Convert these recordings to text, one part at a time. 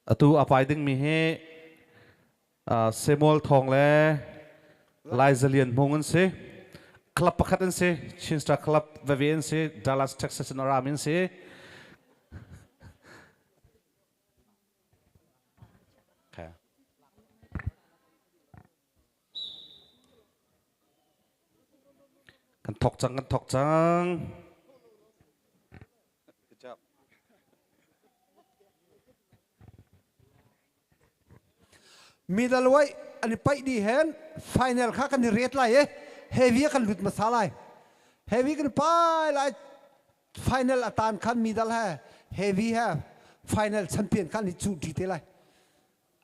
Atu a pai dingmi hi Samuel Thawng le Lai Zalian Hmung an si. Club pakhat an si. Chin Star Club veve an si. Dallas, Texas in a rami an si. Okay. Kan thawk cang, kan thawk cang. Middle way an i paih ni hen final kha kan i ret lai e heavy kan lut masa lai heavy kan pai lai final atan khan middle he heavy he final champion khan i chu ti te lai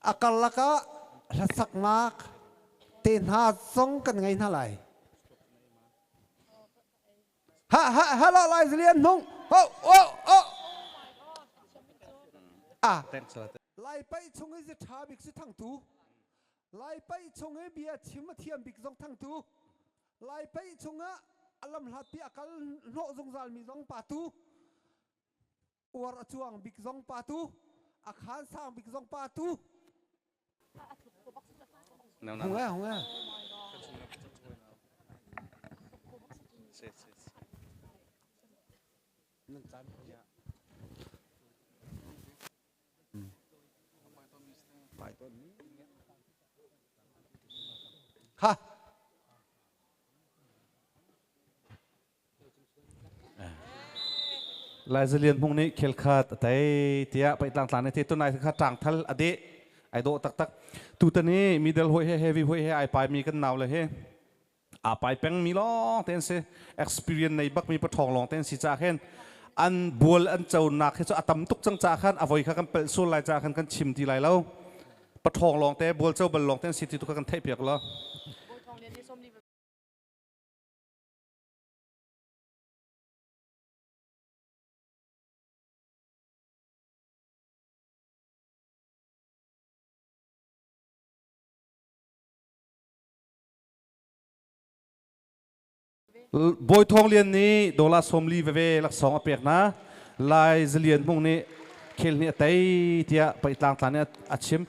A karlak ah hlasaknak tehna zong kan ngei hna lai. Ha ha hello lai zilian hnung. Ho oh oh. Ah. Lai pai chung hi tha bik si thang tu. Lai pai chung hi bia chim thiam bik zong thang tu. Lai pai chung ah alam hlat pi akal hno zungzal mi zong pa tu. uar a cuang bik zong pa tu a khan sang bik zong pa tu hung e hung e se se se nan tan ya mai ton ha Lai Zalian Hmung nih khel khat a tei tiah paihtlang tlang nih te tunai kha ṭangthal a deh ai dawh taktak. Tutan i middle hawi he heavy hawi he ai paimi kan nau le he aa pai pengmi lawng te an si experience nei bakmi paṭhawng lawng te an si caah khin an bual an conak hi cu a tam tuk cang caah khan a voi kha kan pelh sual lai caah khan kan chim ti lai lo paṭhawng lawng te bual co bal lawng te an si ti tu kha kan theihpiak law Bawi Thawng Lian nih dola sawmli veve laksawng a pek hna. Lai Zalian Hmung nih khel ni a tei tiah pei tlang tlang nih a chim.